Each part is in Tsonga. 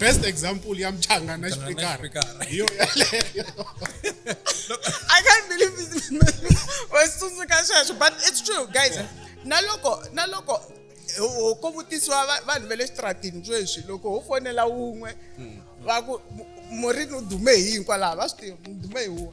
best example ya mchanga na xipikara hi yo yaleyo I can't believe it. wasitsundzuka sweswo but it's true guys na loko na loko ho- ko vutisiwa va- vanhu va le xitratini sweswi loko ho fonela wun'we va ku mu- murini u dume hi hinkwalaho va swi tiva mu dume hi wun'we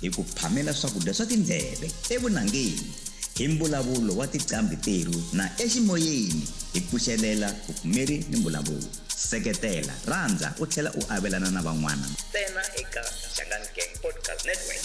hi ku phamela swakudya swa tindleve, evunangeni, hi mbulavulo wa tiqambhi terhu na eximoyeni hi pfuxelela vupfumeri ni mbulavulo. Seketela, rhandza u tlhela u avelana na van'wana ntsena eka Shangani Gang Podcast Network.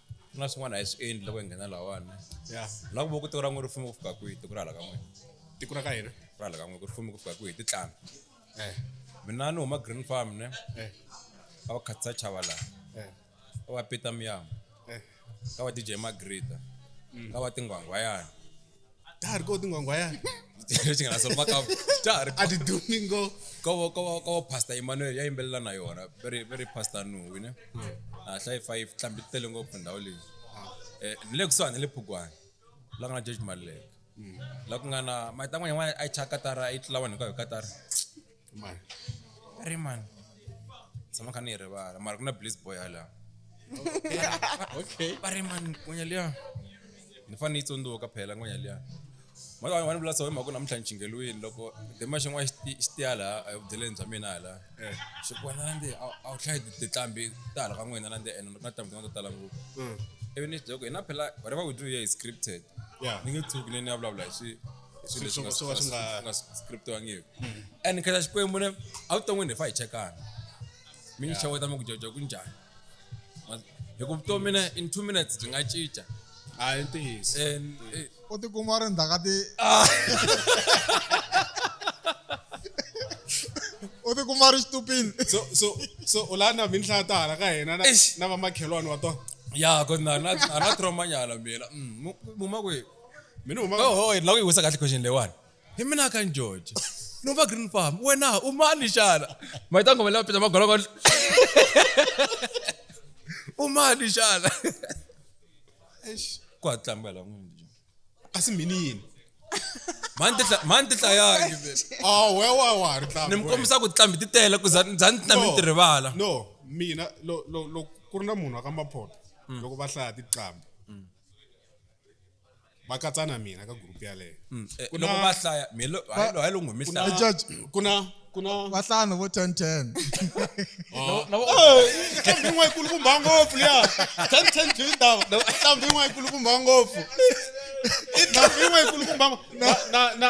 ku na swin'wana a hi swi endli loko hi nghena lahawani ya na ku vo ku tiko ra n'we ri fume ku fika kwihi tiko ra hala ka n'we tiko ra ka hina ra hala ka n'we ku ri fume ku fika kwihi hi titlana eh mina ni huma green farm ne eh a va khatisa chava laha eh a va pita miyama eh ka va dj magrita ka va tingwangwayana Dar, kau tunggu aku ya. Sing langsung makam. Dar. Adi Domingo. Kau kau kau pasta Emmanuel ya imbela na yona. Very very pasta nu, you know. Ah, sai five tambi telungo punda oli. Eh, nile kuswa nile pugwa. La ngana judge male. La ngana mai tangwa yamwa ai chakatara ai tlawan kwa katara. Rimani. Rimani. Sama kha ni rivala. Mara kuna Bliss boy hala. Okay. Rimani ngonya liya. Ni fani tsonduka phela ngonya liya. Mara wani vula so mhaka namuntlha ni chingelwini loko dema xin'wana xi tiya laha a vudyeleni bya mina hala. Eh. Xi ku wena nandzi a wu hlayi tinqambi ta hala ka n'wina nandzi ene na tinqambi tin'wana to tala ngopfu. Mm. Ivi ni byela ku hina phela whatever we do here is scripted. Yeah. Ni nge tshuki ni ni ya vulavula hi swi. swilo leswi nga swo ka swi nga nga scriptiwangiki and nkhensa xikwembu ne a wu ton'wini hi fa hi chekana mi ni xeweta mi ku jojo ku njhani Ma- hi ku vutomi ne in two minutes byi nga cinca a hi ntiyiso and eh, u tikuma u ri ndzhaka ti u tikuma u ri xitupini so so so u la na minhla ta hala ka hina na Eish. na vamakhelwani wa tona ya ko na na na trauma nyala mina Mm, mu- muma ku mina uma oh, oh la uyiwisa kahle question lewani hi mina ka njojo nova green farm wena umani xana mayita ngoma leyi pita magologo umani xana ku hatlamba la n'wini a si mini yini mani ti hlayangi ah, ni mi kombisa ku tlambi ti tele ku za ni tlambi ti rivala no mina ku ri na munhu wa ka maphota hmm. loko va hlaya tiqambi va katsa na mina ka group yaleyo mm. eh, loko va hlaya hayi lo ngumi hlaya ku na ku na vahlanu vo ten ten nhlampfi yin'wana yikulukumba ngopfu liya ten ten byi ndhawu nhlampfi yin'wana yikulukumba ngopfu i nhlampfi yin'wana yikulukumba na na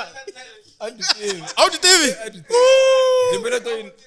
a wu ti tivi timbele to yini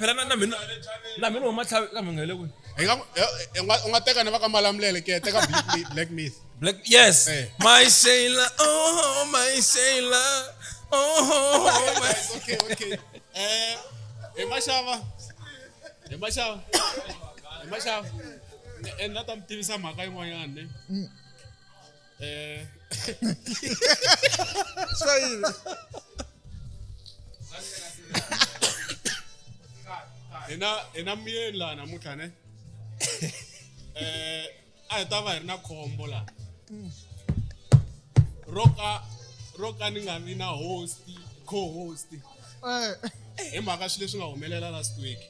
phela na na mina na mina huma tlhavi ka mhanga le kwi hi nga eh, eh, u nga teka na va ka malamulele ke teka black myth black yes eh. my sailor oh my sailor oh my okay okay eh hi maxava hi maxava hi maxava and na ta mi tivisa mhaka yin'wanyana ne mm. É. Isso aí. Né? ina ina muyeni laha namuntlha ne eh a hi ta va hi ri na khombo laha ro ka ro ka ni nga vi na host co-host eh. hi mhaka swilo leswi nga humelela last week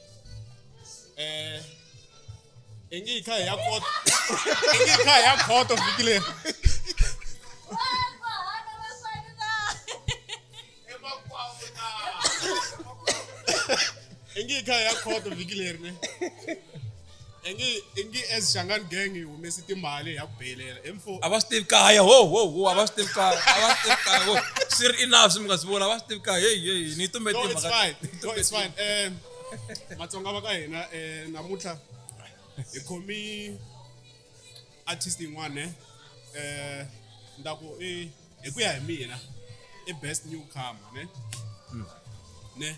eh I ngi hi kha hi ya khoto. I ngi hi kha hi ya khoto vhiki leri. I ngi hi kha hi ya khoto vhiki leri ne. I ngi i ngi as Xangani gang hi humese timali hi ya ku beyilela. Hi mfo. A va swi tivi kaya ho ho ho a va swi tivi kaya a va swi tivi kaya ho swi ri enough swi mi nga swi vona a va swi tivi kaya heyi heyi ni yi tumbete No, it's timhaka. fine. No, it's fine. Um, matsonga va ka hina eh, namuntlha hi khomi artist yin'wana ne eh nda ku i hi ku ya hi mina i best newcomer ne ne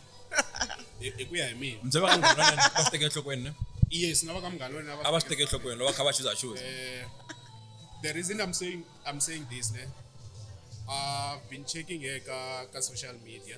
hi hi ku ya hi mina mse va ka munghana wa yena va swi teke enhlokweni ne yes na va ka munghana wa yena a va swi teke enhlokweni loko va kha va chuza chuza Eh, the reason I'm saying I'm saying this, ne, I've been checking here ka, ka social media.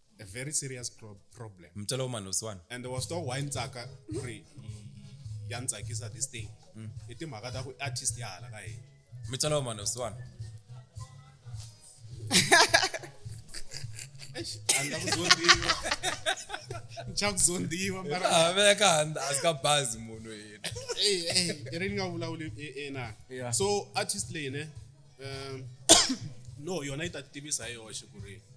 a very serious pro problem mtshela umani losiwani and was to why ntsaka ku ri ya ni tsakisa this thing mm. i timhaka ta ku artist ya hala ka hina mi tsala wa mano swana nchakuzondiwa veka handa a ka bazi munhu yena i ri ni nga vulavuli ena so artist leyi ne um, no yona yi ta tivisa hi yoxe ku ri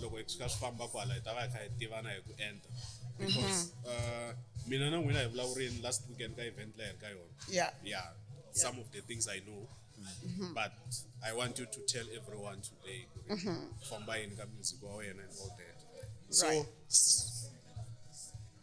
loko hi tshuka swi famba kwala hi ta va hi kha hi tivana hi ku enta because mhm. uh, mina na n'wina hi vulavurini last weekend ka event leyi ka yona yeah yeah some of the things i know mhm. but i want you to tell everyone today mhm. famba yini ka music wa wena and all that so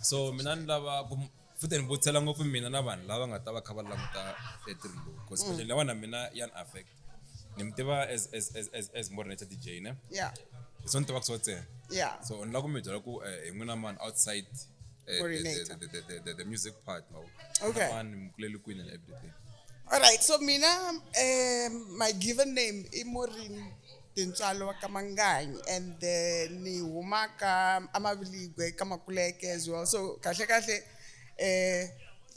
so mina ni lava ku futhi ni vutisela ngopfu mina na vanhu lava nga ta va kha va languta etirhini lowu because mm. especially lawana mina ya ni affect ni mi tiva as as as as as morinator dj ne yeah hi swo ni tivaka swo ntsena yeah so ni lava ku mi byela ku eh, hi n'wina mani outside eh, the, the, the, the, the music part mawu okay mani mi kulele kwini and everything all right so mina um, my given name i morin Tintswalo ka Manganyi and ni huma ka Amaviligwe ka Makuleke as well so kahle kahle eh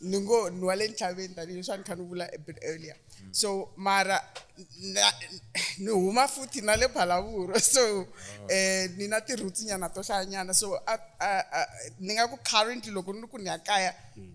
ni ngo ni wale ntlhaveni tanihileswi a ni kha ni vula a bit earlier so mara ni huma futhi na le Phalaborwa so eh ni na ti roots nyana to hlayanyana so a ni nga ku currently loko ni ri ku ni ya kaya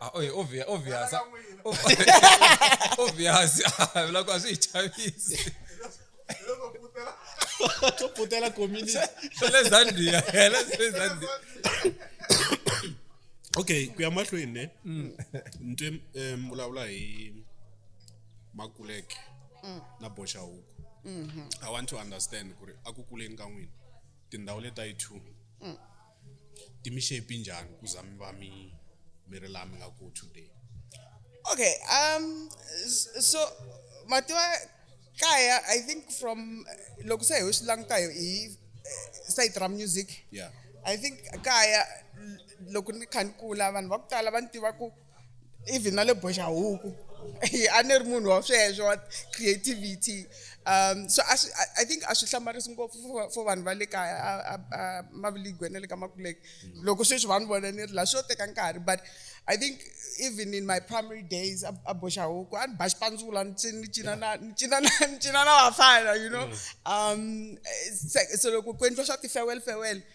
Ah, oye, obvious, obvious. Obvious. Vula ku a swi hi chavisi. to putela community Swa le Zambia. Hela swi le Zambia. okay ku ya mahlweni ne nto um vulavula hi makuleke na boxa huku i want to understand ku ri a ku kuleni ka n'wina tindhawu leta yi two ti mi shape njhani ku za mi va mi mi ri laha mi nga ku today okay um so mativa kaya i think from loko se hi swi languta hi hi eh, site ra music yeah i think kaya loko ni kha ni kula vanhu va ku tala va ni tiva ku even na le boxahuku a ni ri munhu wa sweswo wa creativity um so i think a swi hlamarisi ngopfu for vanhu va le kaya maviligwe na le ka makuleke loko sweswi va ni vona ni ri laha swo teka nkarhi but i think even in my primary days a boxa huku a ni ba xipandzula ni cina na ni cina na ni cina na vafana you know mm. um so loko ku endliwa swa ti-farewell farewell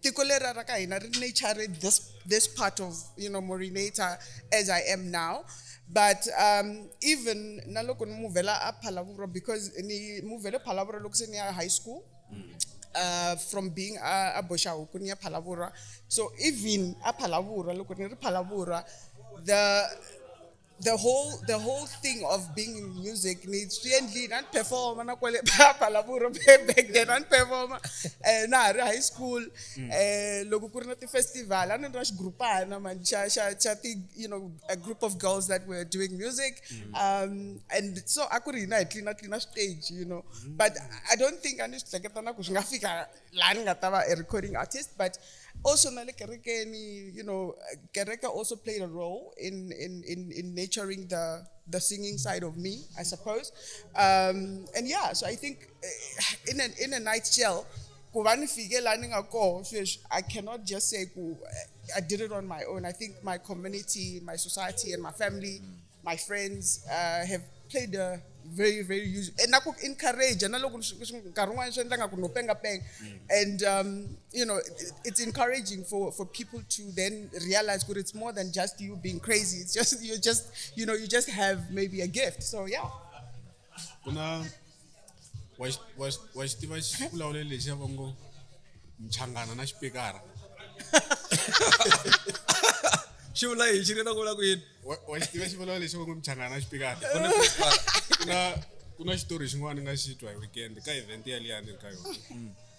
tiko leri ra ka hina ri nature this this part of you know morinator as i am now but um, even na loko ni muvhela a phalavuro because ni muvhele phalavuro loko se ni ya high school uh, from being a, a boxa huku ni ya phalavurwa so even a phalavurwa loko ni ri phalavurwa the the whole the whole thing of being in music ni swi endlile a ni performa na kwale phaphalavulo back then a ni performa um na ha ri high school um loko ku ri na ti-festival a ni ri na xigurupana mani xa xa xa ti you know a group of girls that were doing music mm. um and so a ku ri hina hi tlina tlina stage you know mm. but i don't think a ni swi hleketa na ku swi nga fika la ni nga ta va a recording artist but also na le kerekeni you know kereke also played a role in in in, in nurturing the the singing side of me i suppose um, and yeah so i think eh, in a, in a night shell ku va ni fike la ni nga koho sweswi i cannot just say ku eh, i did it on my own i think my community my society and my family mm. my friends uh, have played a very very huge and na ku encourage na loko nkarhi un'wana swi endla nga ku no penga penga mm. and um, you know it's encouraging for for people to then realize that it's more than just you being crazy it's just you just you know you just have maybe a gift so yeah ku na wa xi wa xi wa xi tiva xivulavulelo lexi ya va ngo mchangana na xipikara xi vula yini xi ri na ku vula ku yini wa wa xi tiva xivulavulelo lexi ya va ngo mchangana na xipikara ku na ku na ku na xitori xin'wana ni nga xi twa hi weekend ka event yaliyani ni ri ka yona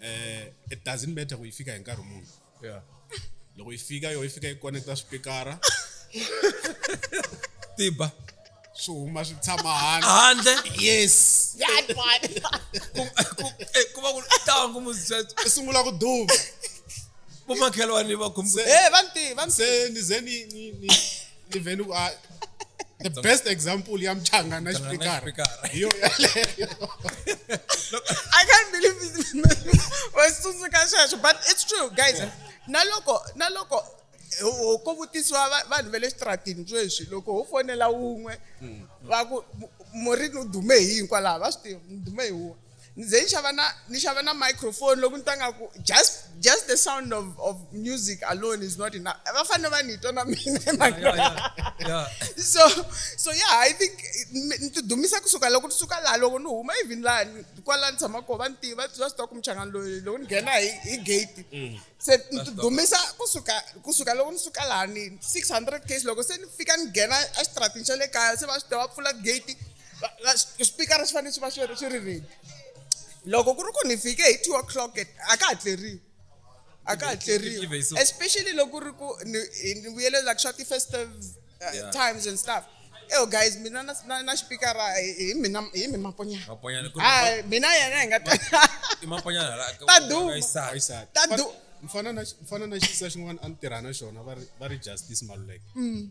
eh it doesn't matter ku yi fika hi nkarhi muni yeah loko yi fika yo yi fika yi connecta swipikara tiba swi huma swi tshama handle handle yes That one. Ku- ku- eh, ku va ku tangu muzizwetso i sungula ku duma vomakhelwani va khumbu Se- Eh, vanti, vanti. se ni ze ni ni ni even u a the best example ya mchanga na xipikara Xipikara. hi yo yaleyo I can't believe wasitsundzuka sweswo but it's true guys na loko na loko ho- ko vutisiwa va- vanhu va le xitaratini sweswi loko ho fonela wun'we va ku mu- murini u dume hi yini kwalaho va swi tiva ni dume hi wun'we Ni ze ni xava na ni xava na microphone loko ni twa nga ku just just the sound of of music alone is not enough. Va fanele va ni twa na mina hi mhaka Yeah, yeah, yo. yeah. So so yeah, I think mi- ni ti dumisa kusuka loko ni suka laha loko ni huma even laha ni- kwala ni tshama kona va ni tiva va swi tiva ku muchangani loyi loko ni nghena hi hi gate. Se ni ti dumisa kusuka kusuka loko ni suka laha ni 600 case loko se ni fika ni nghena exitratini xa le kaya se va swi tiva va pfula gate swipikara swi fanele swi va swi ri swi ri ready loko ku ri ku ni fike hi two o'clock a ka ha tleriwi a ka ha tleriwi especially loko ku ri ku ni vuyele like swa ti-festive uh, times and stuff eyo guys mina na na na xipikara hi mina hi mi maponyana maponyana ku hayi mina yena hi nga ta i maponyana la ta duma ta duma mfana na mfana na xisa xin'wana a ni tirha na xona va ri va ri justice maluleke mm.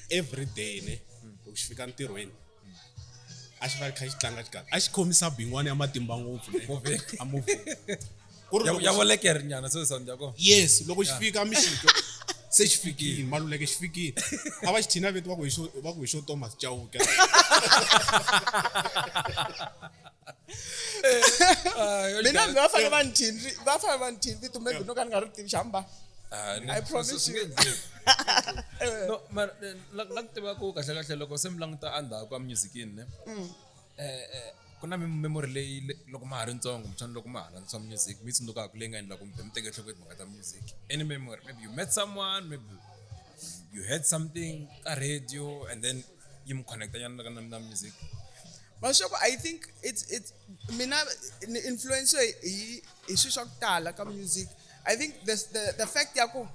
every day ne loko xi fika ntirhweni a xi va kha xi tlanga xikala a xi khomisa bingwana ya matimba ngopfu ya volekeri nyana so sound ya kona yes loko xi fika mixito se xi fikile maluleke xi fikile a va xi thina veti va ku hi xo thomas chauke Eh, mina ndzi va fanele va ni thini va fanele va ni thini vito maybe no ka ni nga ri tivi xamba ah, I promise you. Eh. no mara eh, la ku tiva ku kahle kahle loko se mi languta endzhaku ka musicini ne mm. ku na memory leyi loko ma ha ri ntsongo kumbexana loko ma ha landzisa music mi tsundzukaka leyi nga endla kumbe mi teke enhlokweni timhaka ta music any memory maybe you met someone maybe you heard something ka radio and then yi mu connecta nyana na, na music maswaku i think it's it's mina ni influence hi hi swilo swa ku tala ka music i think the the, the fact ya ku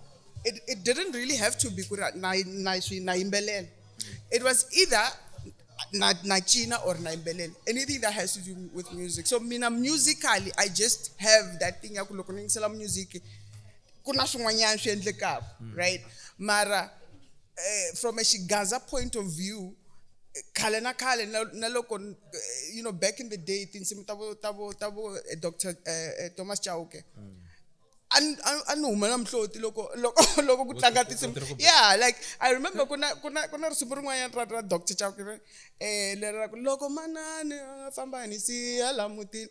it, it didn't really have to be ku ri na na swi na yimbelela it was either na na cina or na yimbelela anything that has to do with music so mina musically i just have that thing ya ku loko ni yingisela music ku na swin'wanyana swi endlekaka mm. right mara eh, from a xigaza point of view khale na khale na loko eh, you know back in the day tinsimu ta vo ta vo ta vo eh, dr eh, thomas chauke mm. a ni humela mihloti loko loko loko ku tlanga tinsimu yeah like i remember ku na ku na ku na risimu rin'wanyana ra ra dr chauke um leri ra ku loko manani famba ni siya la mutini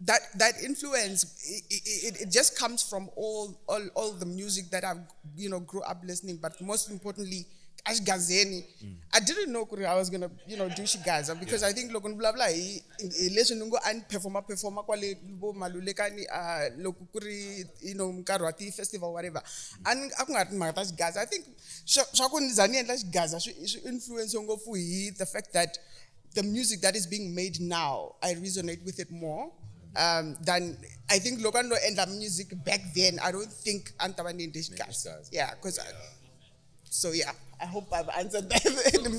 that that influence it, it, it, just comes from all, all all the music that I you know grew up listening, but most importantly, Ashgazeni. Mm. I didn't know I was gonna you know do Shigaza because yeah. I think logon blah blah leswi ni ngo a ni performa performa kwale vo malulekani a loko ku ri you know nkarhi wa ti-festival whatever a ni a ku nga ri timhaka ta Shigaza I think swa ku ni za ni endla Shigaza swi influence ngopfu hi the fact that the music that is being made now, I resonate with it more um, than I think Logan Lo and the music back then. I don't think Antaman English guys. Yeah, because yeah. so yeah. I hope I've answered that.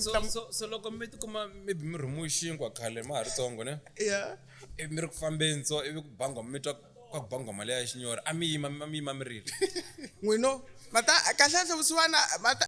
so, so, so, so loko mi tikuma maybe mi rhumiwe xinkwa khale ma ha ri tsongo ne yeah ivi mi ri ku fambeni so ivi ku bangwa mi twa kwa ku bangwa mali ya xinyora a mi yima mi yima mi rili n'wino mata kahle kahle vusiwana mata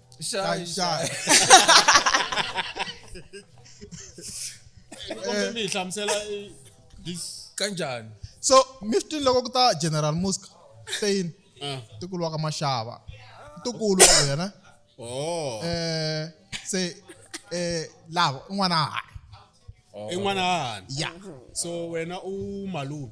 Shy, shy. Kombe mi hi hlamusela eh, this kanjani so mi swi twile loko ku ta general musk tein ah tikulu wa ka maxava tikulu wa wena oh eh se eh lava un'wana a ha i n'wana hahani ya so wena u malume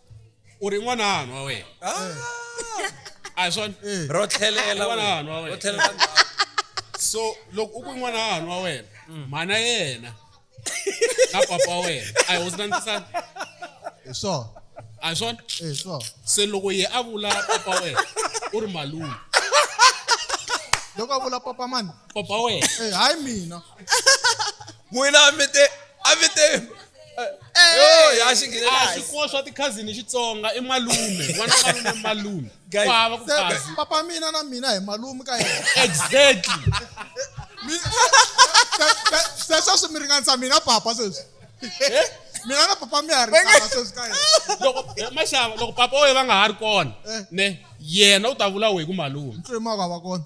u ri n'wana hanwa wena a hi swona eh. ro tlhelela n'wana hanwa wena so loko u ku n'wana hanwa wena mm. mhana yena na papa wena a hi hosi na ntisana hi swona a hi swona hi swona se loko ye a vula papa wena u ri malume loko a vula papa mani papa wena eh, hayi mina n'wina a mi te a mi te yo ya xi nghenela a hansi. swikuwa swa tikhazini xitsonga i malume n'wana wa malume i malume Guys, ku hava ku se- khazi papa mina na mina hi malume ka yena exactly Mi- se- se- sweswi mi ringanisa mina papa sweswi Eh? mina na papa mi ha ri tava sweswi ka yena loko eh, maxava loko papa wena va nga ha ri kona Eh. ne yena u ta vula wehi ku malume ntwe ma va va kona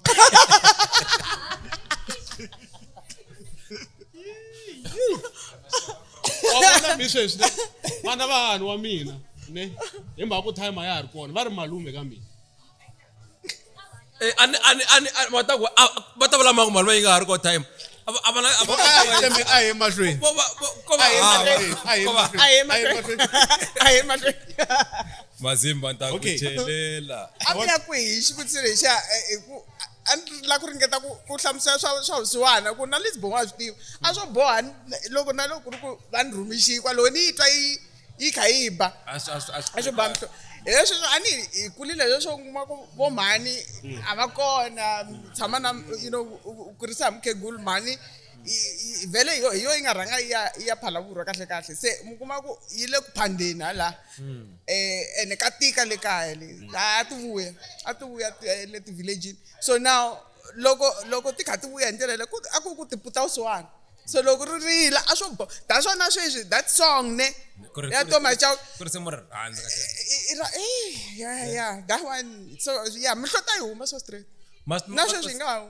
wavona mi sweswi ne vana vahani wa mina ne hi mhaka ku time a ya ha ri kona va ri malume ka mina Eh, ani ani ani ani- va ta ku a- va ta vula mangu mali va yi nga ha ri ko time a va- a va na- a va- a hi tshembe- a hi emahlweni Vo va- vo- ko va- a hi ah, emahlweni a hi ko va- emahlweni, a hi a hi emahlweni. emahlweni a hi emahlweni mazimba ni ta ku Okay. chelela a mi ya kwihi xivutiso lexa eh, hi ku a ni la ku ringeta ku ku hlamusela swa swa vusiwana ku na lesibongo a swi tiva a swo boha ni- loko na loko ku ri ku va ni rhumixiyi kwaloho ni yi twa yi yi kha yi ba a swi- a swi- a swi a swi ba mhlo- hi leswi swo- a ni hi kulile leswo u kuma ku vo mhani a va kona tshama na you know u- u- u kurisa hi mukhegulu mhani i- i- vhele hi yo- hi yo yi nga rhanga yi ya- yi ya phalavurwa kahle kahle se mi kuma ku yi le ku phandeni hala um ene ka tika le kaya le a ti vuya a ti vuya ti- eh, le ti-villagini so now loko loko ti kha ti vuya hi ndlela leyi ku- a ku ku tiputa u swiwani so loko ri rila a swo bo da swona sweswi that song ne ya toma cha ku ri semor handle ka tena eh ya ya that one so ya mihlota yi huma so straight na sweswi nga hu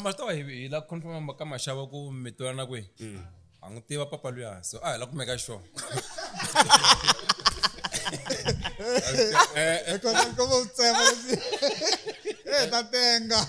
masitawa hi la confirma ka maxava ku mi twelana kwihi mm. a n'wi tiva papa luya so a hi la kumeka xona Ecco, come un sembra così. Eh, da tenga.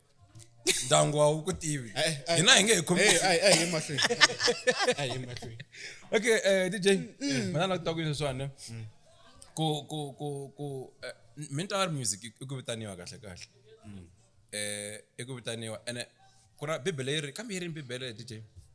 ndyangu wa wu ku tivi hina hi nge hi khomi okay eh dj mina na kuta ku leswiwani ku ku ku ku eh, mental music i ku vitaniwa kahle kahle eh i ku vitaniwa ene ku ra bibele yi ri kambe yi ri bibele dj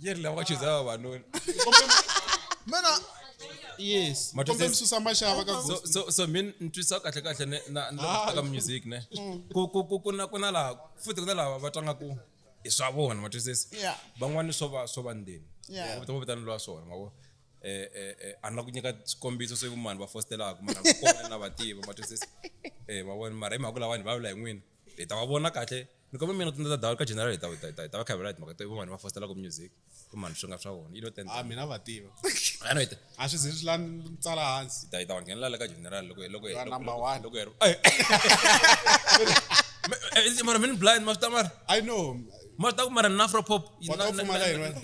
Yeye ndio alikuwa cheza hawa wanoni. mena yes Matu kombe says- msusa masha avaka so so so min ntwisa kahle kahle ne na na Ah. ka music ne ku ku ku kuna kuna la futhi kuna lava va tlanga ku i swa vona ma twisisa Yeah. van'wani swo va swo va ndeni Yeah. vo vitana lwa swona ma vo eh eh eh a na ku nyika xikombiso swi vumani va fostelaka mara va kona na va tiva ma twisisa eh ma vona mara hi mhaka lawani va vula hi n'wina hi ta va vona kahle ni kombe mina tindza dawu ka general hi ta ta ta ta va khavela hi mhaka to vanhu va fostela ku music ku mani swi nga swa vona you know ten ah mina va tiva ano hi ta a swi zi swi la tsala hansi hi ta hi ta va nghenelela ka general loko loko hi number 1 loko hi ri mara mina blind mafta mara i know mafta ku mara na afro pop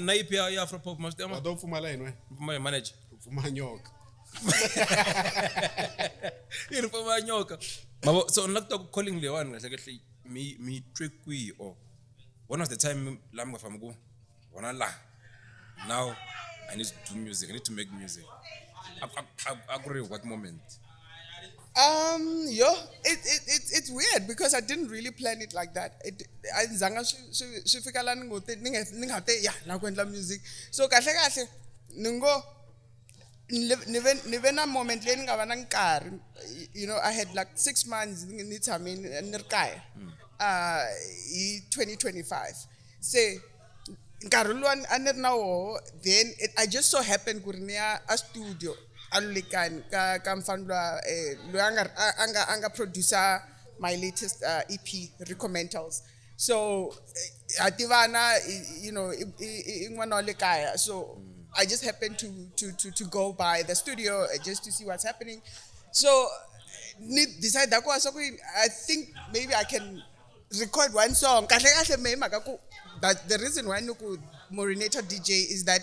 na ipi ya afro pop mafta mara wa do pfumala yini we manager pfuma nyoka yi ri famba nyoka mavo so ni la ku twa ku calling leyiwani kahle kahle mi mi twe kwihi or one of the time la mi nga fambi ku wona la now i need to do music i need to make music a ku ri what moment um yo it, it, it, it's weird because i didn't really plan it like that a ndzi zanga swi fika la ni ngo te ni nga te ya la ku endla music so kahle kahle ni ngo ni ve ni ve na moment leyi ni nga va na nkarhi you know i had like six months ni tshame ni ri kaya mm. uh, hi 2025 se nkarhi lowu a ni ri na woho then it, i just so happen ku ri ni ya a studio a lulekani ka ka mfana lwa um eh, loyi a nga a nga a nga producer my latest uh, ep recomentals so ha tivana you know i n'wana wa le kaya so i just happened to, to, to, to go by the studio uh, just to see what's happening so ni decide ku va swa ku i think maybe i can record one song kahle kahle mehe mhaka ku but the reason why ni ku morinator dj is that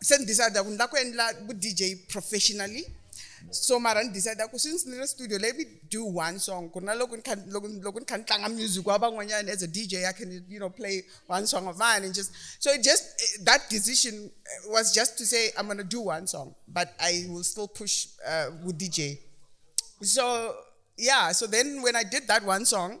se ni decide ku ni lava ku endla vu dj professionally so mara ni decide ku since ni ri studio let me do one song ku na loko ni kha loko loko ni kha ni tlanga music wa van'wanyana as a dj i can you know play one song of mine and just so it just that decision was just to say i'm gonna do one song but i will still push uh, with dj so yeah so then when i did that one song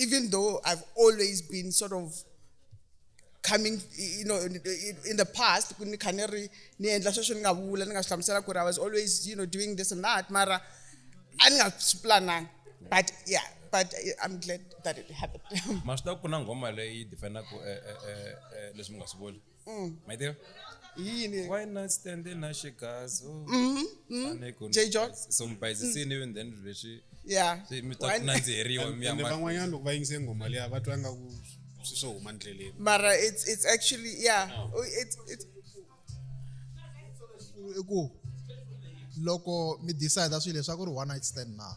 even though I've always been sort of coming you know in, in the past I was always you know doing this and that mara andingasiplananga but yeah but i'm glad that it happened maswi ta ku na nghoma leyi defendaku eh, eh, eh, leswi mi nga swi vuli Mm. My dear. Yini? Why not stand in Ashikazo? Mm-hmm. Mm-hmm. Mm-hmm. J John. So mubhayisisini even then lexi. Yeah. Se mi ta nandziheriwa mi ya ma. Van'wanyana loko va yingise ngoma leya va twa nga ku swi swo huma ndleleni. Mara it's it's actually yeah. No. Oh, it's it's i ku loko mi decide swilo leswaku ri one night stand na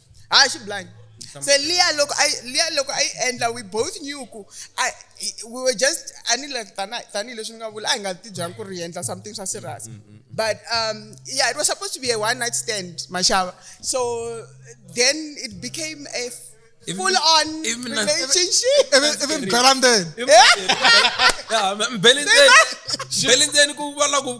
hayi xi blind se liya loko a liya loko a yi endla we both knew ku we were just a ni like tanihi leswi ni nga vula a hi nga ti byangi ku ri hi endla something swa serious mm, mm, mm. but um, yeah it was supposed to be a one night stand mashava so then it became a full on even relationship even even Belandeni yeah Belandeni Belandeni ku vona ku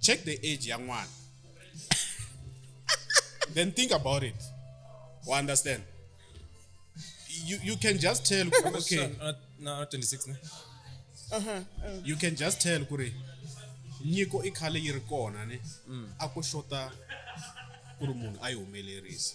check the age ya n'wana then think about it u understand you, you can just tell ku ri, okay na 26 ne you can just tell ku ri nyiko i khale yi ri kona ne a ko xota ku ri munhu a yi humelerisa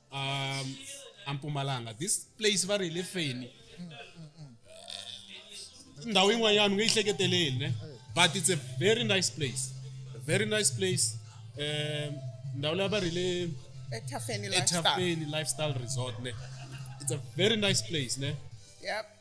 um ampumalanga this place va ri hi le feni ndhawu yin'wanyana u nge yi hleketeleli ne but it's a very nice place a very nice place um ndhawu leyi va ri le ethafeni lifestyle resort ne it's a very nice place ne yep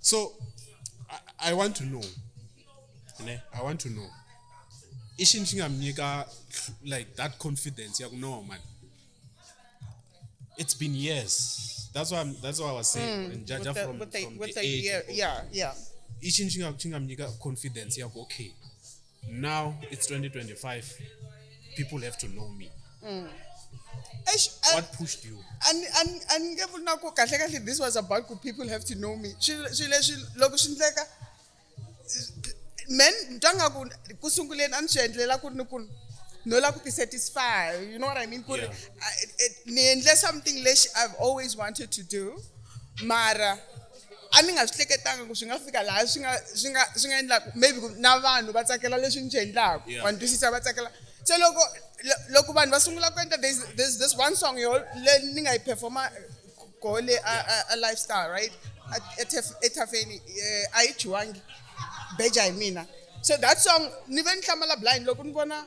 so I, i want to know ne i want to know i xini xi nga mi nyika like that confidence ya ku no man it's been years that's why I'm, that's why i was saying mm, jaja the, from, with the, from with the, the age year, yeah yeah i xini xi nga xi nga mi nyika confidence ya ku okay now it's 2025 people have to know me mm. Eish, I, what pushed you and and and nge vuli na ku kahle kahle this was about ku people have to know me swilo leswi loko swi ndleka men twa nga ku ku sunguleni a ni swi endlela ku ri ni ku no la ku ti satisfy you know what i mean ku ri ni endle something lexi i've always wanted to do mara a ni nga swi hleketanga ku swi nga fika laha swi nga swi nga swi nga endlaku maybe ku na vanhu va tsakela leswi ni swi endlaku wa ni twisisa va tsakela se loko loko vanhu va sungula ku endla there's, there's this one song yo le ni nga yi performa koho le a, a, a lifestyle right ethafeni eh, a yi chiwangi beja hi mina so that song ni ve ni hlamala blind loko ni vona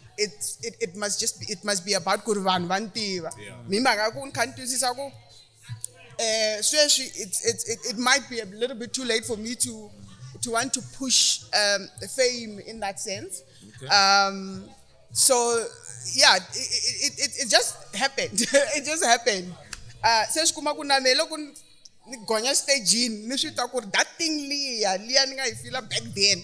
it's it, it must just be, it must be about ku ri vanhu va ni tiva mi mhaka ku ni kha ni twisisa ku eh sweswi it's it's it, it might be a little bit too late for me to to want to push um, fame in that sense okay. um so yeah it, it, it, it just happened it just happened uh se swi kuma ku na me loko ni gonya stagini ni swi twa ku ri that thing liya liya ni nga yi fila back then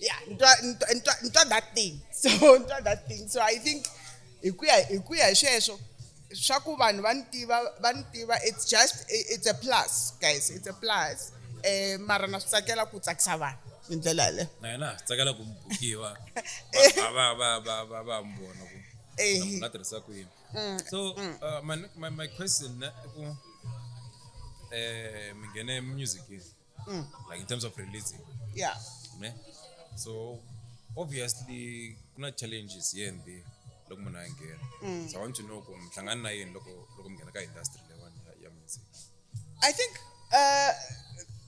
yeah ntwa that thing so ntwa that thing so i think hi ku ya hi ku ya hi sweswo swa ku vanhu va ni tiva va ni tiva it's just it's a plus guys it's a plus um mara na swi tsakela ku tsakisa vanhu hi ndlela yaleyo na yena swi tsakela ku bukiwa va va va va va mi vona ku nga tirhisa ku yini mm, so mm. Uh, my, my, my question eh, ku um mi nghene musicini mm. like in terms of releasing yeah ne so obviously kuna challenges here and there loko munhu a nghena mm. so i want to know ku mihlangano na yini loko loko mi nghena ka industry leyiwani ya, ya music i think uh,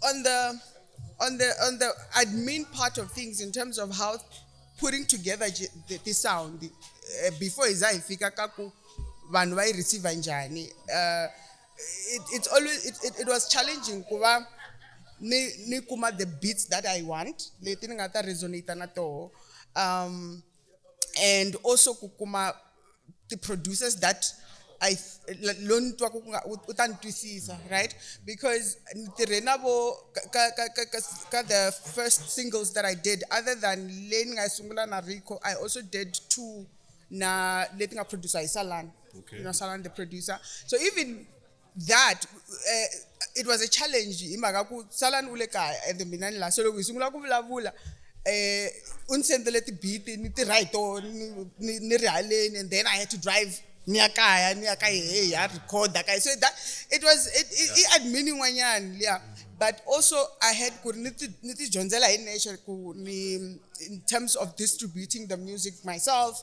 on the on the on the admin part of things in terms of how putting together the, the sound uh, before izayifika kaku vanhu vayi receiver njani uh, it, it's always it, it, it was challenging ku va ni ni kuma the beats that i want leti ni nga ta resonate na toho um and also ku kuma the producers that I lo ni twa ku nga u ta ni twisisa right because ni tirhe na vo ka ka ka ka the first singles that i did other than leyi ni nga yi sungula na rico i also did two na leti nga producer hi salani okay. you know, Salan, the producer. So even that, uh, it was a challenge. Imaka ku Salan ulekaya and the minani la solo kusungula kuvulavula. Eh, unsendele ti beat ni ti right ni ni rihaleni and then I had to drive niya kaya niya kaya hey ya record kaya so that it was it it, yeah. it had meaning wanyani yeah but also I had ku ni ti ni ti dyondzela hi nature ku ni in terms of distributing the music myself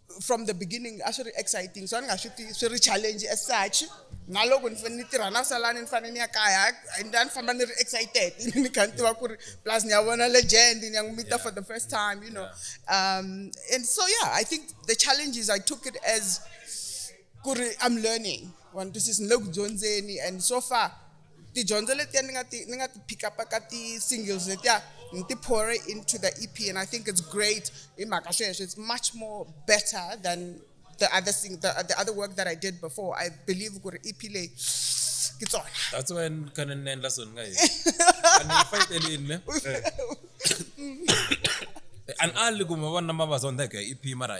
from the beginning a swi ri exciting so a ni nga swi tivi swi ri challenge as such na loko ni tirha na salani ni fanele ni ya kaya a ni famba ni ri excited ni kha ni tiva ku ri plus ni ya vona legend ni ya n'wi mita for the first time you know um, and so yeah i think the challenges i took it as ku ri i'm learning one this is ni le ku dyondzeni and so far tidyondzo letiya ni nga ti ni nga ti pick up ka ti-singles letiya ni ti pore into the e p and i think it's great hi mhaka sweswo it's much more better than the other thing the, the other work that i did before i believe ku ri e p leyi ke tsona that's why ni khane ni endla so ni nga heti ani yi fayitelini ne an ali kuma vona mavazondeke e p mara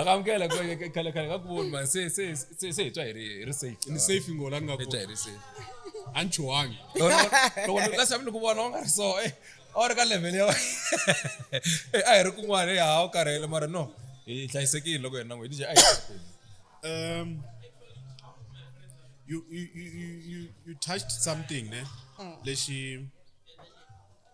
akamukela khale khale ka ku voni mani se se se se hi twa hi ri hi ri safe ni safe ngo la ni nga hi twa hi ri safe a ni chuhangi loko la xavi ni ku vona u nga ri so eh a wu ri ka level ya eh a hi ri kun'wana eh ha u karhele mara no hi hlayisekile loko hi na n'we hi dije a hi um you you you you you touched something ne lexi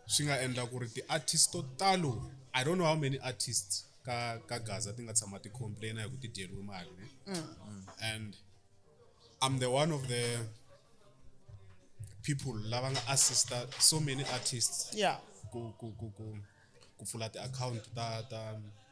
swi nga endla ku ri ti-artist to talo i don't know how many artists ka ka gaza ti nga tshama ti complaina hi ku ti dyeriwe mali ne mm. and i'm the one of the people lava nga assista so many artists yeah ku ku ku ku ku pfula ti-account ta ta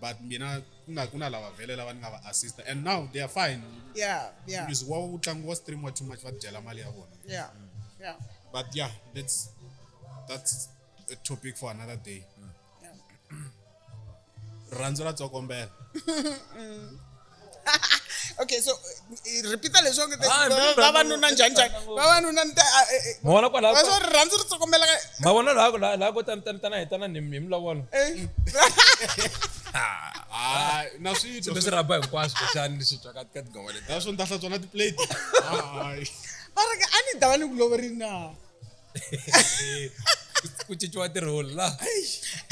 but mina ku nga ku na lava vhele lava ni nga va assista and now they are fine yeah yeah music wa wu tlangu wa stream wa too much va dyela mali ya vona yeah yeah but yeah that's that's a topic for another day yeah. rirhandzu ra tsokombela mm. okay so eh, repeat leswi onge Ah, mi ri- vavanuna njhani njhani vavanuna ni ta ah, eh, eh, mavona kwalaho va swo ri rhandzu ri tsokombela ka mavona laha laha laha ko tani tani tana hi tana ni hi milavona eh. Ah, na swito leswi rhaba hinkwaswo kuxani leswi twa ka ka tingoma leti naswo ni ta hlantswa na tiplate Hayi. va ri ka a ni dava ni ku loverini na ku cinciwa tirholi la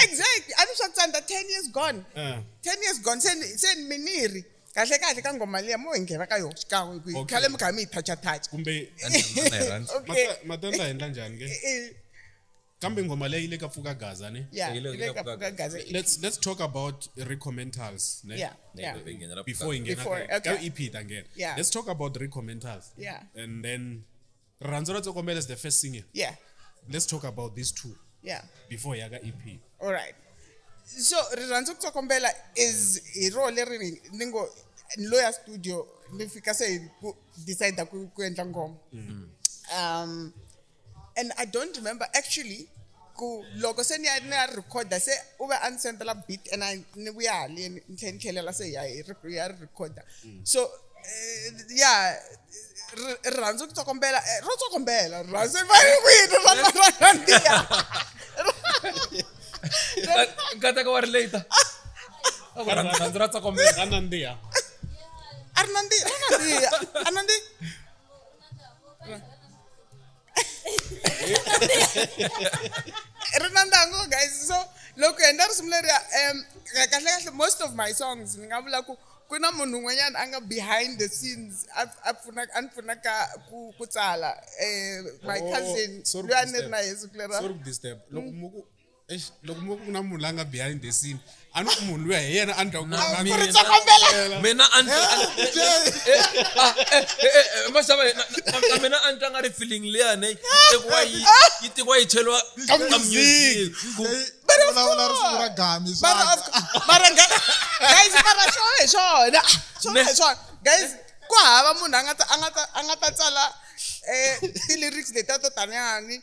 exactly a swi swa ku tsandza ten years gone eh. ten years gone se se mi ni ri kahle kahle ka ngoma liya mo hi nghena ka yona xikan'we kwihi khale mi kha mi yi toucha touch kumbe matenda hi endla njhani ke kambe ngoma leyi le ka pfuka gaza ne let's let's talk about recomentals ne yeah, yeah. before ingena ka EP ta ngena let's talk about recomentals yeah. and then rirhandzu ra tsokombela is the first single yeah let's talk about these two yeah before yaka ep all right so rirhandzu kutsokombela is hi ro leri ni ngo ni lo ya studio ni fika se hi ku decide ku ku endla ngoma mm. um and i don't remember actually ku loko se ni ya ni ya rhikhoda se u ve a ni sendela beat and ni vuya haleni ni tlhela ni tlhelela se ya hi ya ri rhikhoda mm. so eh, ya rirhandzu ku tsokombela eh, ro tsokombela rirhandzu va ri kwini ra nandziha nkateka wa ri late rirhandzu ra tsokombela ra nandziha a ri nandziha ra nandziha a nandziha ri na ntango guys so loko hi endla risimu leriya um kahle kahle most of my songs ni nga vula ku ku na munhu un'wanyana a nga behind the scenes a pfuna a ni pfuna ka ku ku tsala um my oh, cousin loyi a ni ri na yesu ku lera loko mm. muku Eish, loko mo ku na munhu la nga behind the scene a ni ku munhu luya hi yena a ni ta ku Na na- mina- Ndzi kombela. mina a ni- a ni- maxava na- na- na mina a ni tanga ri feeling leyani yi tekiwa yi yi tekiwa yi cheliwa Ka ka music. music ku But of Vulavula ri sungula course. gami, But swa- of course. Mara guys, guys, mara swona hi swona. Swona hi swona. Guys, ku hava munhu a nga ta a nga ta a nga ta tsala eh ti-lyrics letiya to taniyani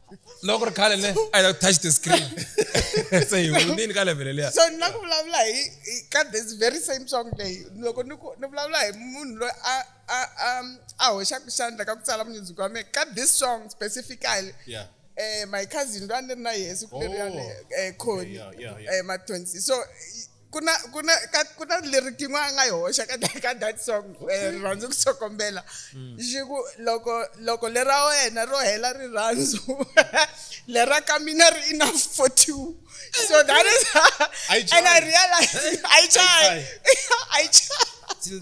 loko ri khale ne i don't touch the screen se hi hundzini ka level leya so ni la ku vulavula hi ka this very same song leyi loko ni ku ni vulavula hi munhu loyi a a a a hoxaka xandla ka ku tsala munyundziki wa mina ka this song specifically yeah eh my cousin loyi a ni ri na yehe siku leri yaleyo oh. eh khoni eh mathonsi so ku na ku na ka ku na leri kin'we a nga yi hoxa ka ka that song eh, rirhandzu ku sokombela mm. xi ku loko loko lera wena ro hela rirhandzu lera ka mina ri enough for two so that is and i realize i try i try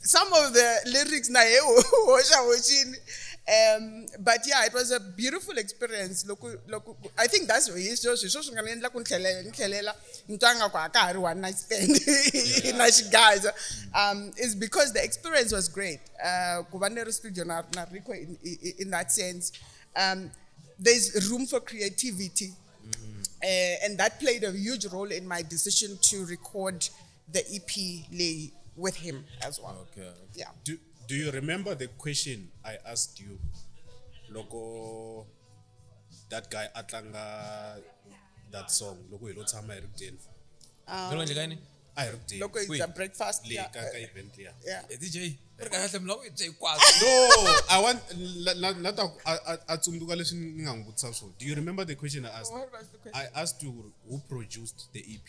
some of the lyrics na he hoxa hoxini um but yeah it was a beautiful experience loko loko i think that's hi swo swi swo swi nga ni endla ku ni tlhelela ni tlhelela ni twa nga ku a ka ha ri one night stand na xigaza um is because the experience was great uh ku va ni ri studio na na rico in, in, in that sense um there's room for creativity mm. uh, and that played a huge role in my decision to record the EP lay with him as well. Okay. Yeah. Do, do you remember the question I asked you? Logo, that guy Atlanga, that song. Logo, you don't tell Um, a hi ri kuteni loko hi dya breakfast leyi ka ka event liya e dj ri ka kahle mloko hi dya hinkwaswo no i want na ta a tsundzuka leswi ni nga n'wi vutisa swona do you remember the question i asked i asked you who produced the ep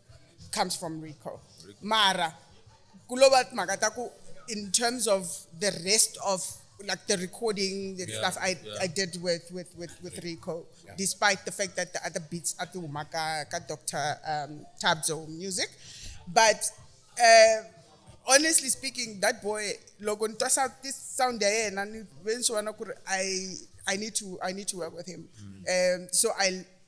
comes from rico mara ku lo va timhaka ta ku in terms of the rest of like the recording the yeah, stuff I, yeah. I did with with with, with rico yeah. despite the fact that the other beats are through maka ka dr um, tabzo music but uh, honestly speaking that boy loko ni twasa this sound ya yena ni ve ni swi vona ku ri i i need to i need to work with him mm. um, so i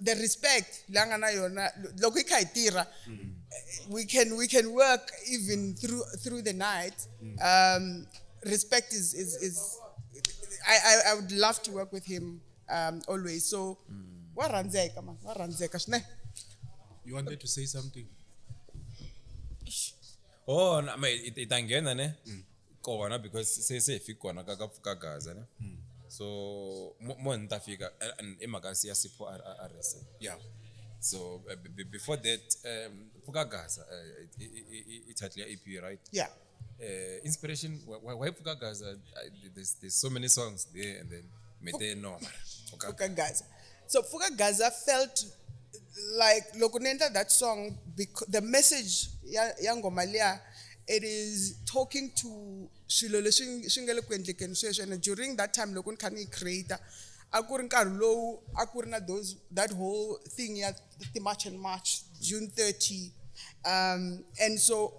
the respect la nga na yona loko hi kha hi tirha mm. we can we can work even through through the night mm. um, respect is is is I, I i would love to work with him um, always so mm. wa rhandzeka man wa rhandzeka swinene you wanted to say something oh no, it, it, it ne mm. kona because se se hi fiki kona ka ka pfuka gaza ne hmm. so mo mo ni ta fika and i mhaka ya sipho RSA yeah so uh, b- before that um pfuka gaza uh, i title ya EP right yeah uh, inspiration why, why pfuka gaza uh, there's, there's so many songs there and then mete noma pfuka gaza So Pfuka Gaza felt like loko ni endla that song because the message ya ya ngoma liya it is talking to swilo leswi swi nga le ku endlekeni sweswi and during that time loko ni kha ni creator a ku ri nkarhi lowu a ku ri na those that whole thing ya ti-march and march june 30 um and so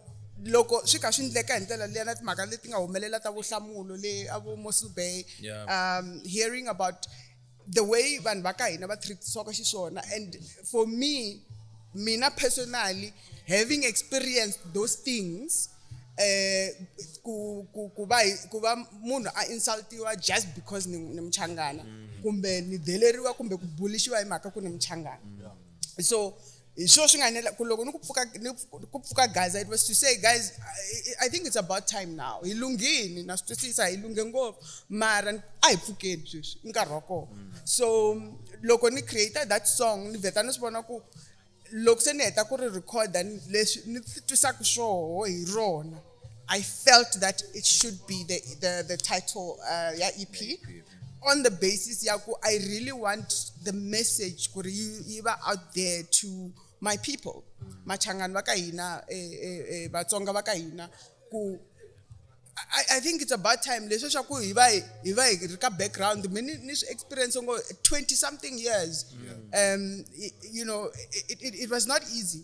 loko swi kha swi ndleka hi ndlela liya na timhaka leti nga humelela ta vohlamulo le a vo mossel bay um hearing about the way vanhu va ka hina va treatisiwaka xiswona and for me mina personally having experienced those things eh ku ku ku va ku va munhu a insultiwa just because ni ni mchangana mm. kumbe ni deleriwa kumbe ku bulishiwa hi mhaka ku ni mchangana so hi swona swi nga enela ku loko ni ku pfuka ni ku pfuka gaza it was to say guys I, I think it's about time now hi lunghini na swi twisisa hi lunghe ngopfu mara a hi pfukeni sweswi i nkarhi wa kona mm. so loko ni create that song ni vheta ni swi vona ku loko se ni heta ku ri recorda leswi ni twisaka swoho hi rona I felt that it should be the the, the title uh, yeah, EP. On the basis, Yaku, I really want the message could iba out there to my people. Machangan wakaina, eh, eh, eh, Batsonga wakaina, ku I, I think it's about time leswi swa ku hi va hi va hi ri ka background mi ni ni swi experience ngo 20 something years yeah. um you know it, it, it was not easy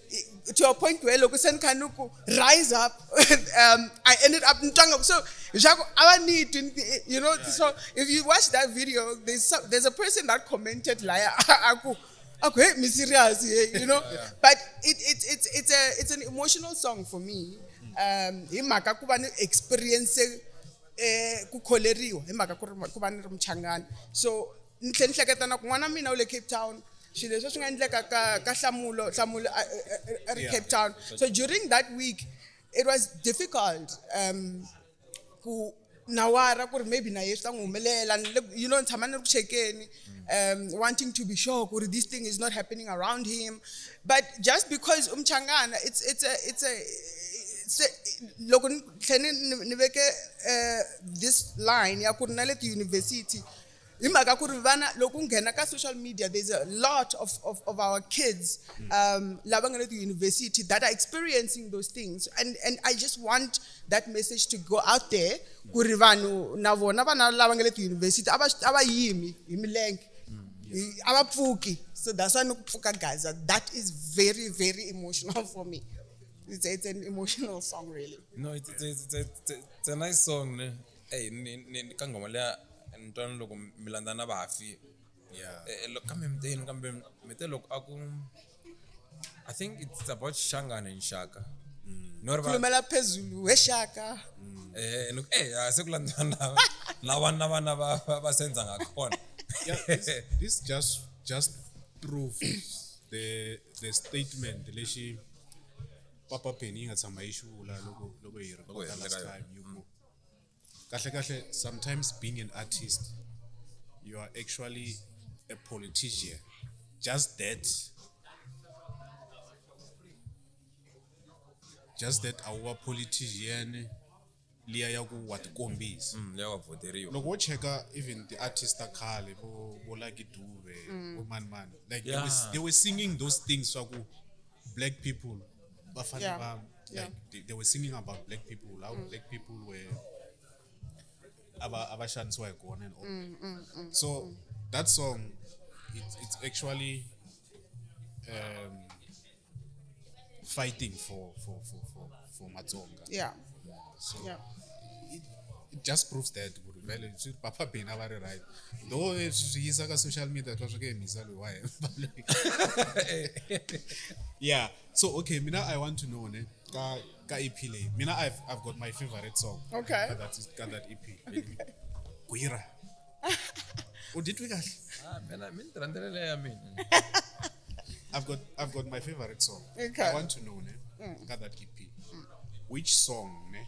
to a point where loko se ni kha ni ku rise up um, i ended up ni twanga so leswaku a va ni twi you know so if you watch that video there's, some, there's a person that commented laya a ku a ku hey mi serious you know but it, it, it's, it's, a, it's an emotional song for me um hi mhaka ku va ni experience eh, ku kholeriwa hi mhaka ku ri ku va ni ri muchangani so ni tlhela ni hleketa na ku n'wana mina u le cape town swilo leswi swi nga endleka ka ka hlamulo hlamulo a ri cape town so during that week it was difficult um ku nawara ku ri maybe na ye swi ta n'wi humelela you know ni tshama ni ri ku chekeni um wanting to be sure ku ri this thing is not happening around him but just because umchangana it's it's a it's a se loko ni tlhela ni ni veke um this line ya ku ri na le tiyunivhesiti hi mhaka ku ri vana loko nghena ka social media there's a lot of, of, of our kids hmm. um, lava nga le tiyunivhesiti that are experiencing those things and, and i just want that message to go out there ku ri vanhu na vona vana lava nga le tiyunivhesiti a va yimi hi milenge hmm. a va pfuki so that's why ni ku pfuka gaza that is very very emotional for me it's, it's an emotional song really no it's, it's, it's, it's, it's a nice song ne? eyi ni ni ka nghoma liya ni twana loko mi landza na vafi yeah Eh, eh, lo- kambe mi te yini kambe mi te loko a ku i think it's about xangane nxaka no ri va- khulumela phezulu we xaka eh ni ku, eh ah, se ku landziwa na na vana na vana va va- va senza ngakhona yeah, this, this just just proves the the statement lexi papa penny yi nga tshama yi xi vula loko loko hi hi rhekota rhekota last yona. time yi ku kahle kahle sometimes being an artist you are actually a politician just that just that a wu va politician liya ya ku wa tikombisa mm, leyi wa voteriwa loko wo cheka even the artist ta khale vo vo lucky dube mm. vo mani mani like they, were, they were singing those things swa ku black people Bafana yeah. Bam, like, yeah. they, they, were singing about black people, how mm. black people were abashandiswa igona and all mm, mm, mm, so mm. that song it, it's actually um, fighting for for for for, for Matsonga. Yeah. yeah so yeah. It, it just proves that vele swi papa bina va ri right though eh, swi yisa ka social media swa swi ke hi mhisa loyi wa hemba yeah so okay mina i want to know ne ka ka ep leyi mina i've, I've got my favorite song okay ka that, ka that ep gwira u titwi kahle ah, mina mi ni ti rhandzela leyi ya mina i've got i've got my favorite song okay. i want to know ne mm. ka that ep which song ne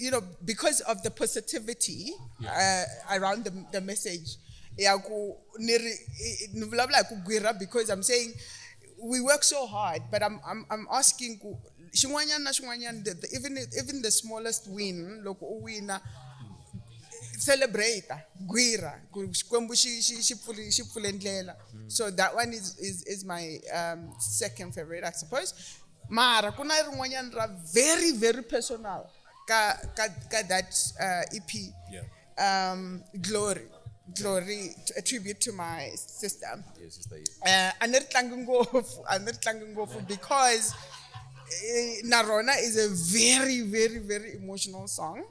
you know because of the positivity uh, around the, the message ya ku ni ri i- ni vulavula hi ku gwirha because i'm saying we work so hard but i'm, I'm, I'm asking ku xin'wanyana na xin'wanyana the, the, even, even the smallest win loko u wina celebrate gwirha ku xikwembu xi- xi- xi pfuli- xi pfule ndlela so that one is, is, is my um, second favorite i suppose mara ku na rin'wanyana ra very very personal ka ka ka that uh, ep yeah. um, glory glory a tribute to my sister yeah, sister yeah. Uh, a ni ri tlangi ngopfu a ni ri tlangi ngopfu because eh, na rona is a very very very emotional song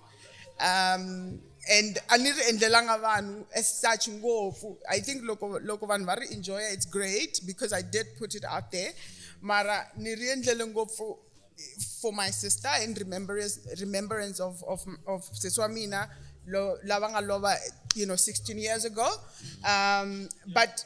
um and a ni ri endlelanga vanhu as such ngopfu i think loko loko vanhu va ri enjoya it's great because i did put it out there mara ni ri endlele ngopfu for my sister in remembrance, remembrance of, of, of sesi wa mina lava nga lova you know 16 years ago um, but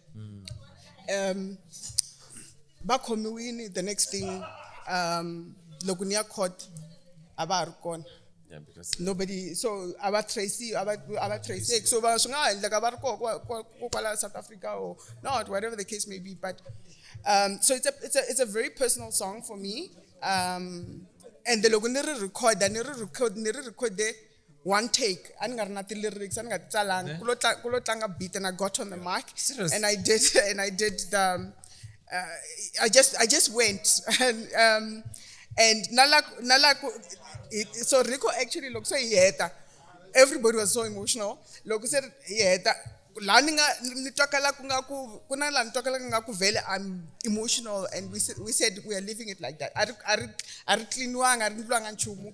mm. um va khomiwini the next thing um loko ni ya court a va ha ri kona Yeah, because nobody so a va tracy a va a va tracy so va swi nga ha endleka va ri koho kwa- kwa- ko kwala south africa or not whatever the case may be but um, so it's a, it's, a, it's a very personal song for me um, and loko ni ri recorda ni ri record ni ri recorde one take a ni nga ri na ti-lyrics a ni nga ti tsalanga ku lo tla- ku lo tlanga beat and i got on the mic Serious? and i did and i did the uh, i just i just went and um and nala nala ku- it- so rico actually loko se yi heta everybody was so emotional loko se yi heta la ni nga ni twakala ku nga ku ku na la ni twakala ku nga ku vele i'm emotional and we said, we said we are living it like that a ri a ri a ri cleaniwanga a ri ndliwanga nchumu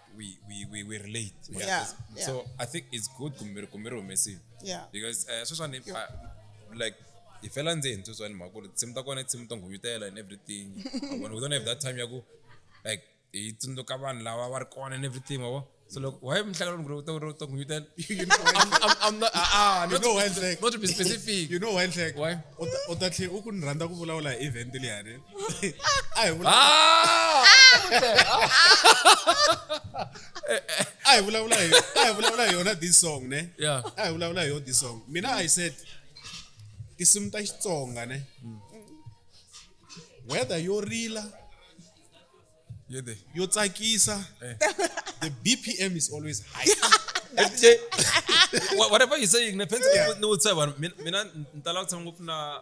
we we we, we relate yeah, yeah, yeah. so i think it's good kumiri kumiri humesile yeah because uh, sweswani uh, like hi fela ndzeni sweswani mhaka ku ri tinsimu ta kona i tinsimu to nghunyutela and everything we don't have that time ya ku like hi tsundzuka vanhu lava va ri kona and everything wavo so look why mhlaka lomgre uta uri uta nghunyutela i'm not ah, ah not, know why not to be specific you know why mhlaka why uta tlhe u ku ni rhandza ku vulavula hi event liyani a hi vula Ah! a hi vulavula hi a hi vulavula hi yona this song ne Yeah. a hi vulavula hi yona this song mina i said tinsimu ta xitsonga ne weather yo rila You're there. yo tsakisa the bpm is always high Wha- whatever you're saying ne fence ni wutsa vanhu mina- mina ni tala ku tshama ngopfu na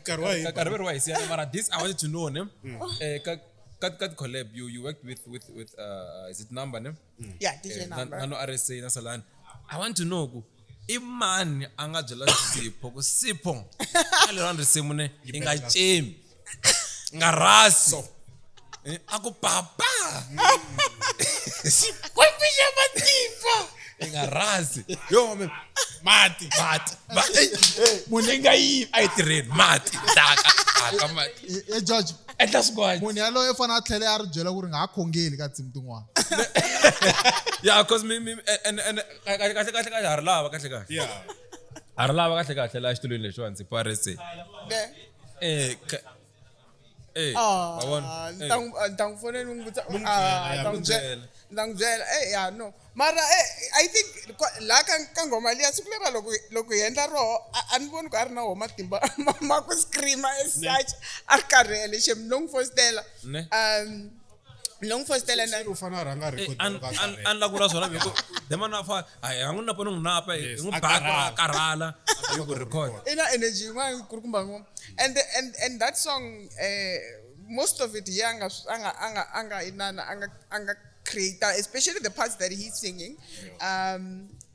nkarhi wa hina nkarhi wa hisi yana mara this i wanted to know ne mm. eh ka ka ka collab you you worked with with with uh is it number ne mm. yeah DJ eh, number nano RSA na Salani i want to know ku imani anga byela sipho ku sipho alero risimu ne ingachemi ngarasi Eh, ako papa Kwakwisha matimba. ingarasi yo mame Mati. mati Ma- eh, eh, Munhu i nga yivi. a yi tirheni mati taka taka mati E- e judge Endla swin'wana. munhu yaloye u fanele a tlhele a ri byela ku ri nga ha khongeli ka tinsimu tin'wana ya cause mi mi and and kahle kahle kahle kahle ha ri lava kahle kahle Yeah. ha ri lava kahle kahle laha xitulwini lexiwani siku rese eh ka- Eh, Ah, ma vona? Eh. ni ta n'wi- ah, ni ta n'wi fonela ni n'wi vutisa N'wi ah, byela, ni ya, ta n'wi n'wi byela byela. ni ta n'wi byela eh ya no mara eh, i think kwa- la ka ka nghoma liya siku lera loko loko hi endla roho a a ni voni ku a ri na wo matimba ma- ma ku screama as such a ri karhele xem no n'wi fositela Ne. um loko ni fositela na u fanele a rhanga a record loko a karhele. a ni lava ku vula swona hi ku demana a fa a hi a n'wi napa ni n'wi napa hi Yes, n'wi a ba ku a karhala. karhala a yi ku record i na energy yin'wana yi kulukumba ngoma and, the- and, and that song eh, most of it ye anga anga anga anga inana anga anga creator especially the parts that he's singing um,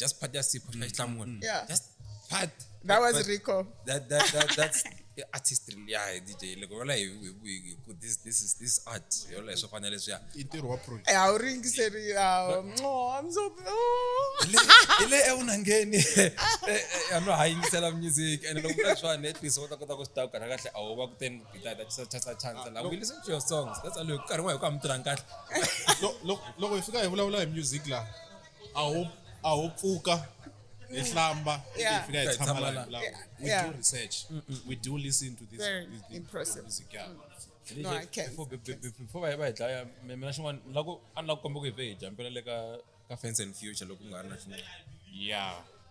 just part ya sipho mm. mm. yeah just part that was but rico that that that that's artistry ya hi dj loko yola hi ku this this is this art yola hi swo fana leswiya i ntirho wa project a wu ringiseri ile evunangeni a no ha yingisela music and loko vula swani at least u ta kota ku swi takukana kahle a wu va ku teni gitata chisa chasa chansa la we listen to your songs that's all karhi n'wa hi ku amtirhanga kahle loko hi fika hi vulavula hi music laha a ho a ho pfuka hi mm. hlamba hi fika hi tshama la hi vulaku we do research we do listen to this Very impressive music yeah mm. No, I can't. Before, before va hi dlaya mina xin'wana ni lava ku a ni lava ku komba ku hi vhe hi jampela le ka ka fence and future loko ku nga ri na xin'wana yeah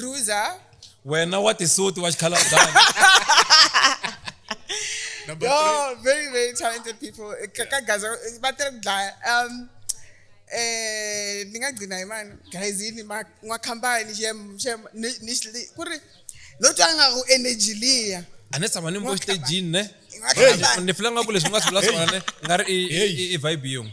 ruza wena wa tisuti wa xikhalabani Number three. yo very very talented people Eh, ka- ka gaza eh, va tele ku dlaya um eh ni nga gcina hi mani guys yini ma- n'wakhambani xem xem ni ni xi li- ku ri lo twa nga ku energy liya a ni tshama ni mbo xitejini ne N'wakhambani. ni filanga ku leswi nga swi vula swona ne nga ri i- i- i vibe yin'we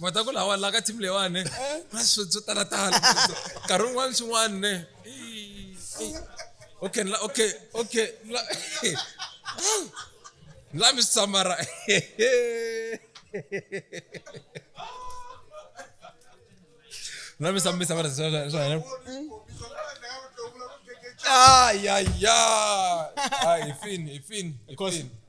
mhata ku lawa la ka team leyiwani ne eh. ku na swo swo talatala nkarhi wun'wani swin'wani ne okay la okay okay la la mi swi tsamara la mi mi tsamara swa hina ay ay ay ay ifini ifini ifini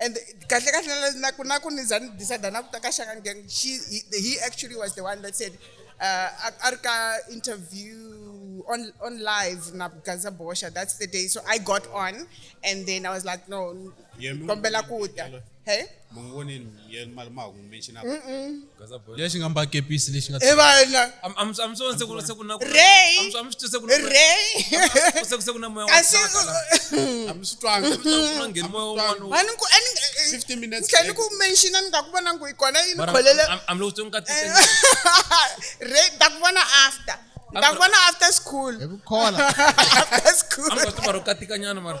and kahle kahle naku naku ni za ni decide na ku ta ka shaka ngen she he actually was the one that said uh, a ri ka interview on on live na Gaza Bosha that's the day so I got on and then I was like no kombela ku ta hey mongoni yena mali ma hu mention lexi nga mbakepisi lexi nga e vana amswona se ku se ku na ku rey amswona se ku na rey se ku se ku na moya wa tsaka la amswitwanga amswitwanga ngeni moya wa n'wana wa ni ku ani 15 minutes ke ni ku mention ni nga ku vona ngo ikona yini kholele am lo tsonga tisa rey ta ku vona after ta ku vona after school e ku khola after school amswitwanga ro katika nyana mara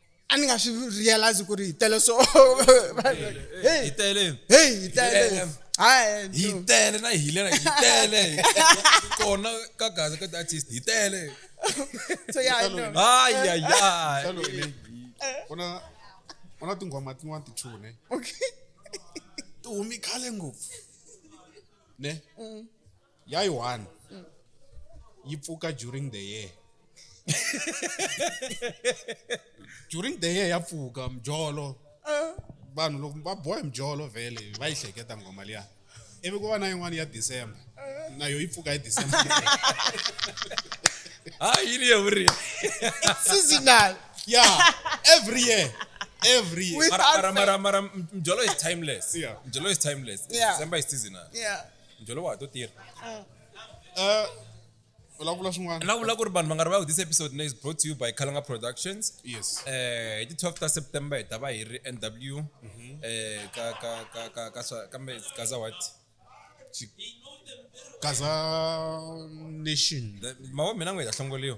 a ni nga swi realize ku ri hi tele so hey hi tele hey hi tele hayi hi tele na hi lena hi tele kona ka gaza ka artist hi tele so ya hayi ya ya ona ona tinghoma tin'wana ti chune okay ti humi khale ngopfu ne mm. Ya yi one yi pfuka during the year during the year ya pfuka mjolo vanhu loko va boha hi mjolo vhele va yi hleketa nghoma liya ivi ku va na yin'wana ya december na yo yi pfuka hi december hayi yini ye vuri seasonal ya every year every year With mara mara unfair. mara mara mjolo is timeless Yeah. mjolo is timeless Yeah. december is seasonal Yeah. njholo wa ha to tirha Eh, vulavula swin'wana na vula ku ri vanhu va nga rivali this episode is brought to you by khalanga productions yes eh hi ti 12 ta september hi ta va hi ri nw eh ka ka ka ka ka swa kambe kaza what kaza nation The- mawa mina n'we hi ta hlongoliwa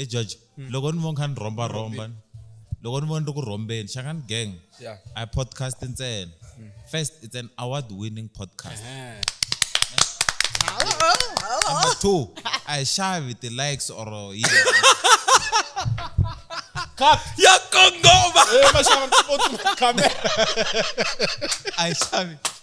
e judge hmm. loko ni vo kha ni rhomba rhomba loko ni vo ni ri ku rhombeni xangani gang i podcast ntsena hmm. first it's an award winning podcast number two a hi xavi ti-likes or yini cut ya kongoma eh, a hi xavi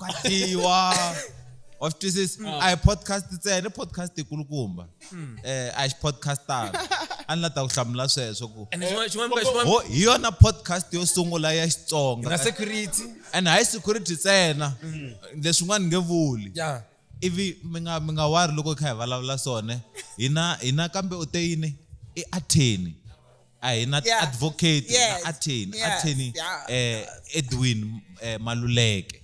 ka dyiwa wa swi twisisa mm. a hi podcast ntsena i podcast yikulukumba mm. eh a hi xipodcastana a ni la ta ku hlamula sweswo ku hi yona podcast yo sungula ya xitsonga ene hayi security ntsena mm. leswin'wana nge vuli Ivi mi nga, mi nga wari loko hi kha hi vulavula swona, hina, hina kambe u te yini? I Atheni. A hi na Yeah. ti-advocate, hi na Yes. Atheni. Yes. Atheni, Yeah. eh, Edwin, eh, Maluleke.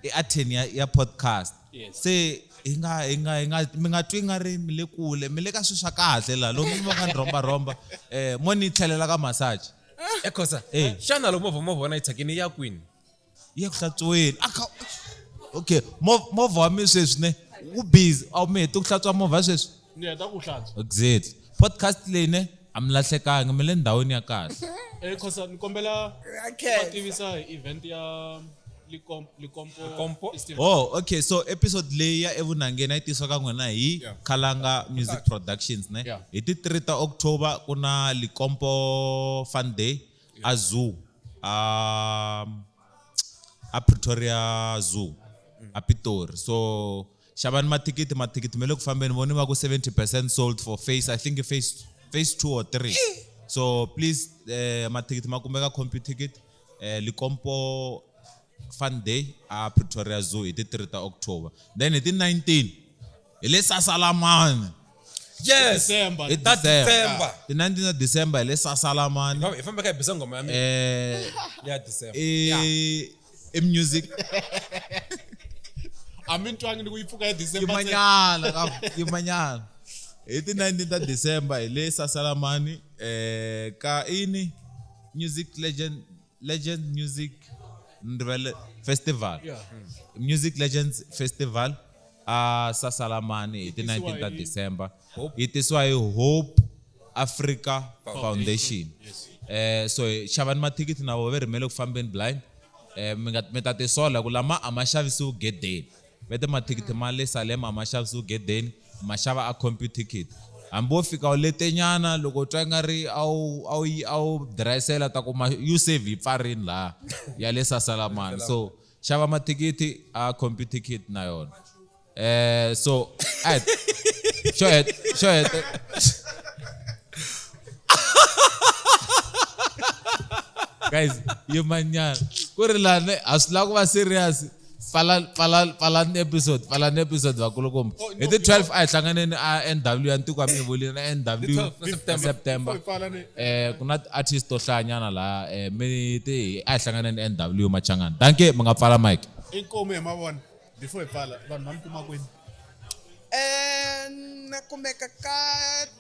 I Atheni ya, ya podcast. Yes. Se hi nga, hi nga, hi nga, mi nga twi nga ri mi le kule, mi le ka swilo swa kahle laha. Loko mi va ka ni rhomba-rhomba, eh, mo ni tlhelela ka massage. ekhosa Eh. xana loko movha movha wena yi thyakini ya kwini ya ku hlatsuweni a kha okay movha wa mina sweswi ne wu busy a wu mi hete ku hlantswa movha sweswi ni heta ku hlantswa exactly podcast leyi ne a mi lahlekangi mi le ndhawini ya kahle eh khosa ni kombela va tivisa hi event ya likompo oh okay so episode leyi ya evunhangeni a yi tisiwa ka n'wina hi khalanga music productions ne hi ti 3 ta october ku na likompo fun day a zoo a a pretoria zoo a pitori so xavani mathikithi mathikithi ma le ku fambeni voni va ku 70 percent sold for face i think face face two or three so please eh, mathikithi ma kumeka compute ticket eh, likompo Fun Day a Pretoria Zoo hi ti 3 ta October then hi ti 19 hi le Sasalamani yes December. hi ta December. December ti 19 ta December hi le Sasalamani hi famba ka hi bisa ngoma ya mina eh ya December i i music a mi ntwangi ni ku yi pfuka ya December ntsena. yimanyana ka yimanyana hi ti 19 ta December hi le Sasalamani eh ka ini music legend legend music ndvele festival yeah. Hmm. music legends festival a uh, sasalamani hi ti 19 ta december yi tisiwa hi hope africa foundation yes. eh, so xavani mathikithi na vo ve rhimele ku fambeni blind eh, mi ta tisola ku lama a ma xavisiwi gedeni Vete mathikithi ma le Salema ma xavisiwa egedeni, u ma xava a Computicket. Hambi wo fika u letenyana, loko u twa ingari a wu a wu a wu dirayisela u ta kuma U-Save yi pfarile laya ya le Sasalamani. So xava mathikithi a Computicket na yona. So a hi xo heta xo heta guys yimani nyana ku ri lani ha swi lava ku va serious. pfala pfala pfala ni episode pfala ni episode vakulukumba oh, hi ti 12 a hi hlanganeni a NW ya ntiko mi volini na NW September eh ku na artist to hlanyana la eh mi ti a hi hlanganeni NW machangana danke mi nga pfala mic inkomo hi mavona before hi pfala vanhu va mi kuma kwini eh na kumeka ka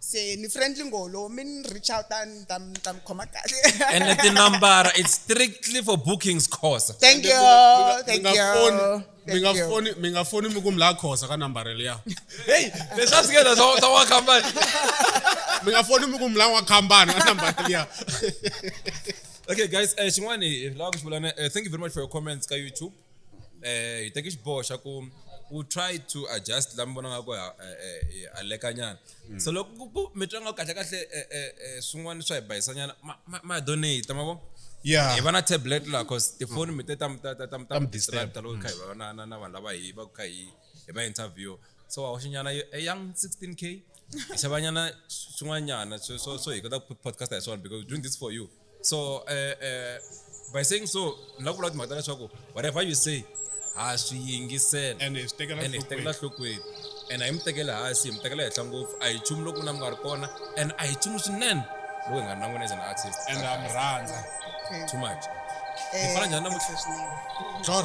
se ni friendly ngolo mi ni reach out a ni ta ni ta mi khoma kahle ene tinambara it's strictly for bookings khosa thank you thank you mi nga foni mi nga foni mi ku mi la khosa ka nambara leya hey leswa swi ngela swa swa wakambani mi nga foni mi ku mi la wakambani ka nambara leya okay guys eh xin'wani la ku xivulana eh, thank you very much for your comments ka youtube eh hi teke xiboho xa ku u try to adjust la mi vona nga ku alekanyana mm. so loko ku ku mi twa nga kahle kahle eh, eh, eh, swin'wana swa hi bayisanyana ma donate ma vo yeah hi va na tablet la cause tifoni mi te ta ta ta ta mi distract loko kha hi va na na na vanhu lava hi va kha hi hi va interview so wa xinyana a young 16k xavanyana swin'wanyana so so so hi kota ku podcast hi swona because doing this for you so uh, uh, by saying so ni la ku vula timhaka ta leswaku whatever you say ha swi yingisela and hi swi tekela and hi swi tekela nhlokweni and a hi mi tekeli hansi hi mi tekela henhla ngopfu a hi nchumu loko na mi nga ri kona and a hi nchumu swinene loko hi nga ri na n'wina as an artist and ha mi rhandza too much hi fana njhani namuntlha Jor.